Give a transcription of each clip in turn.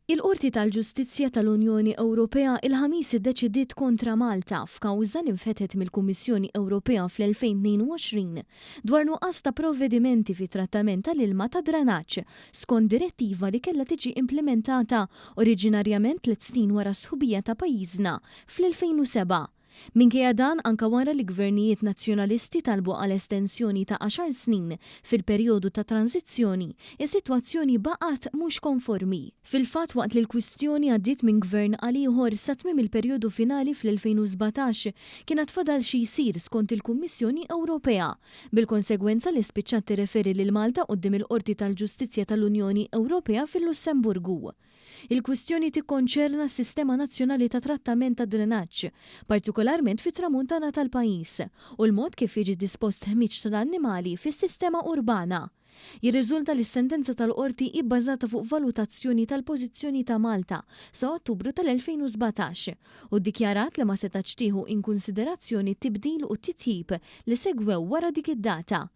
Il-Qorti tal-Ġustizzja tal-Unjoni Ewropea il-Ħamis iddeċidiet kontra Malta f'kawża li nfetħet mill-Kummissjoni Ewropea fl-2022 dwar nuqqas ta' provvedimenti fit-trattament tal-ilma tad-dranaġġ skont direttiva li kellha tiġi implimentata oriġinarjament tliet snin wara s-sħubija ta' pajjiżna fl-2007. Minkejja dan, anke wara li gvernijiet Nazzjonalisti talbu għal estensjoni ta' għaxar snin fil-perjodu ta' tranżizzjoni, is-sitwazzjoni baqgħet mhux konformi. Fil-fatt, waqt li l-kwistjoni għaddiet minn gvern għal ieħor sa tmiem il-perjodu finali fl-2017, kien għad fadal xi jsir skont il-Kummissjoni Ewropea, bil-konsegwenza li spiċċat tirreferi lil Malta quddiem il-Qorti tal-Ġustizzja tal-Unjoni Ewropea fil-Lussemburgu. Il-kwistjoni tikkonċerna s-sistema nazzjonali ta' trattament tad-drenaġġ, partikolarment fit-Tramuntana tal-pajjiż, u l-mod kif jiġi dispost ħmieġ tal-annimali fis-sistema urbana. Jirriżulta li s-sentenza tal-Qorti hi bbażata fuq valutazzjoni tal-pożizzjoni ta' Malta sa Ottubru tal-2017 u ddikjarat li ma setgħetx tieħu inkunsiderazzjoni t-tibdil u t-titjib li segwew wara dik id-data.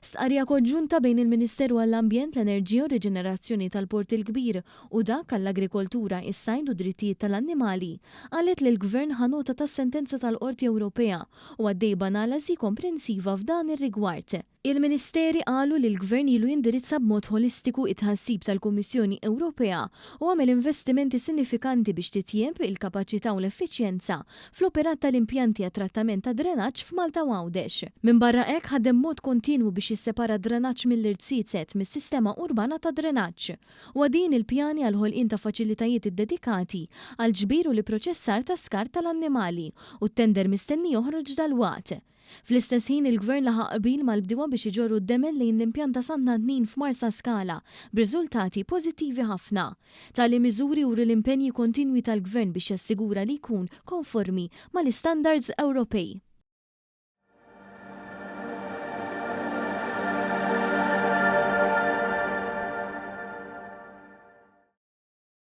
Stqarrija konġunta bejn il-Ministeru għall-Ambjent, l-Enerġija u r-Riġenerazzjoni tal-Port il-Kbir u dak għall-Agrikoltura, is-Sajd u d-Drittijiet tal-Annimali qalet li l-Gvern ħa nota tas-sentenza tal-Qorti Ewropea u għaddej b'analażi komprensiva f'dan ir-rigward. Il-Ministeri qalu li l-Gvern ilu jindirizza b'mod ħolistiku t-tħassib tal-Kummissjoni Ewropea u għamel investimenti sinifikanti biex titjieb il-kapaċità u l-effiċjenza fl-operat tal-impjanti għat-trattament tad-drenaġġ f'Malta u Għawdex. Minbarra hekk ħadem b'mod kontinwu biex jissepara d-drenaġġ mill-irtsiset mis-sistema urbana tad-drenaġġ. Huwa din il-pjani għall-ħolqien ta' faċilitajiet iddedikati għall-ġbir u l-ipproċessar ta' skart tal-annimali u t-tender mistenni joħroġ dalwaqt. Fl-istess ħin il-Gvern laħaq qbil mal-bdiewa biex iġorru d-demen lejn l-impjant ta' Sant'Antnin f'Marsaskala, b'riżultati pożittivi ħafna. Tali miżuri juru l-impenji kontinwi tal-Gvern biex jassigura li jkun konformi mal-istandards Ewropej.